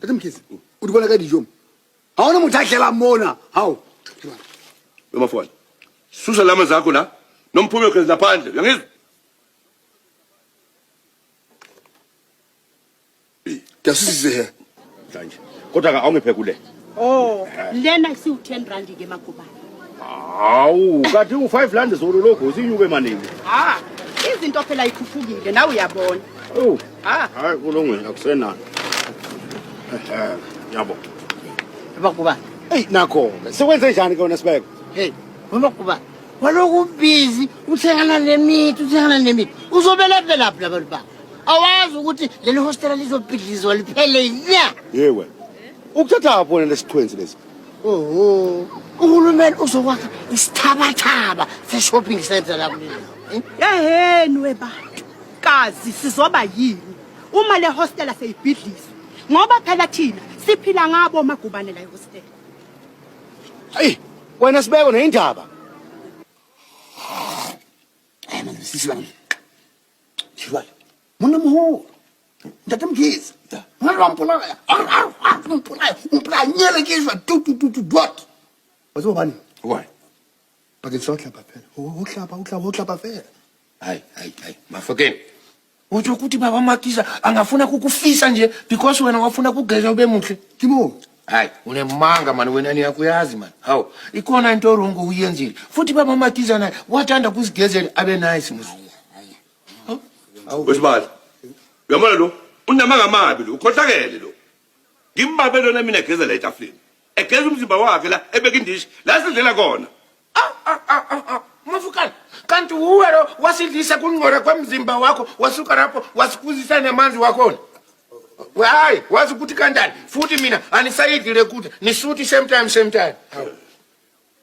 Tate Mkhize, o di bona ka dijo mo. Ha ona motho a tlelang mona. Hao. Noma fona. Susa lama zakho la. Nomphume khona laphandle. Uyangizwa? Ke a susise he. Manje. Kodwa ka awungiphe kule. Oh, lena isiwu 10 rand ke magubane. Hawu, kanti u 5 rand zolo logo sinyuke manini. Ah, izinto phela ikhuphukile nawe uyabona. Oh. Ah. Hayi kulungile akusenani. Eh, yabo. Magubane. Ey nakho, sekwenze njani ke wena sibeko? Hey, magubane. Waloku busy uthengana lemithi, uthengana lemithi. Uzobela phela phela abantu ba. Awazi ukuthi leli hostela lizobhidlizwa liphele nya. Yewe. ukuthatha apho wena lesiqhwenzi lesi oho uhulumeni uzokwakha isithabathaba se-shopping center la kuleli eheni webantu kazi sizoba yini uma le hostela seyibhidliswe ngoba phela thina siphila ngabo magubane la ihostela ayi wena sibeko neyindaba Sisi lami. Shibala. Muna muholo. Ndati mgizi. Ngalo ampulaya. Ar ar ar umpulaya. Umpulaya nyele kizwa tu tu tu tu dot. Wazo bani? Why? Bakin so hlaba phela. Uhlaba uhlaba uhlaba phela. Hayi hayi hayi. Mafokeni. Uthi ukuthi baba Makisa angafuna kukufisa nje because wena wafuna kugeza ube muhle. Kimo. Hayi unemanga mani wena niyakuyazi mani. Hawu ikhona into wrong uyenzile. Futhi baba Makisa naye wathanda kusigezela abe nice musa. wesibali uyamona lo unamanga amabi lo ukhohlakele lo ngimbabe lona mina egezela etafuleni egeza umzimba wakhe la ebeka indishi la sidlela kona Ah, ah, ah, ah, ah. Mafukane, kanti wuwe lo wasidlisa kungcora kwemzimba wakho wasuka lapho wasikuzisa nemanzi wakhona We, hayi wazi ukuthi kanjani futhi mina anisayidli le kudla nisuthi same time same time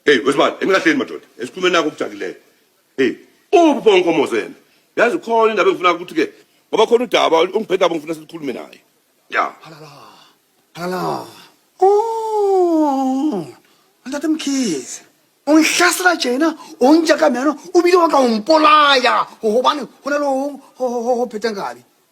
Hey wesibani enikahleni madoda esikhulumeni nakho okujakileyo. Hey uphi pho unkomozo yena? Yazi khona indaba engifuna ukuthi ke ngoba khona udaba ongibhedaba ngifuna sikhulume naye. Ya. Halala. Halala. Oh. Ntate Mkhize. Ungihlasela tjena onjaka mina ubile wa ka umpolaya hobane ho na le ho ho ho ho pheta nkabi.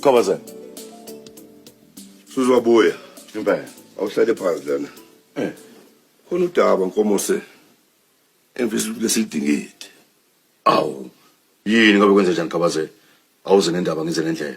Kobazan. Suzo abuya. Impela. Awuhlale phansi lana. Eh. Khona udaba nkomose. Emfisa ukuthi lesidingidi. Awu. Yini ngabe kwenze njani Kobazan? Awuze nendaba ngize ngendlela.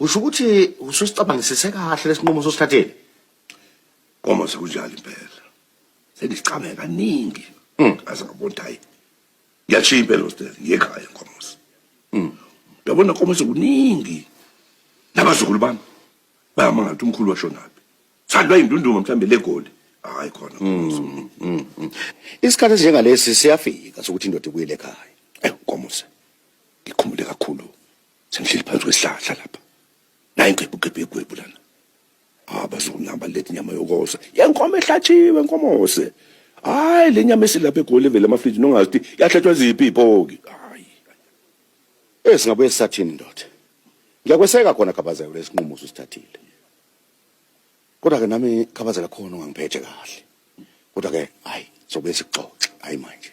Usho ukuthi ususicabangisise kahle lesinqumo sosithatheni. Uma sekunjalo impela. Sengicame kaningi. Hmm. Aze ngabona ukuthi hayi. Ngiyashiya impela hostel ngekhaya nkomosi. Mm. Yabona nkomosi kuningi. Nabazukulu bami bayamangala ukuthi umkhulu washonaphi. Sandwa indunduma mhlambe legoli. Hayi khona nkomosi. Mm, mm, mm. Isikhathi esinjengalesi siyafika sokuthi indoda ibuyele ekhaya. Eh nkomosi. Ngikhumule kakhulu Sengihleli phansi kwesihlahla lapha. Nayi ngebugebhe egwebu lana. Abazonaba ah, lethi nyama yokosa. Yenkomo ehlatshiwe nkomose. Hayi le nyama esilapha egoli evele amafriji nongazi ukuthi yahlatshwa ziphi ipoki. Hayi. Eh singabuye sisathini ndoda. Ngiyakweseka khona khabazela lesinqumo usithathile. Kodwa ke nami khabazela khona ungangiphethe kahle. Kodwa ke hayi sobe sixoxe hayi manje.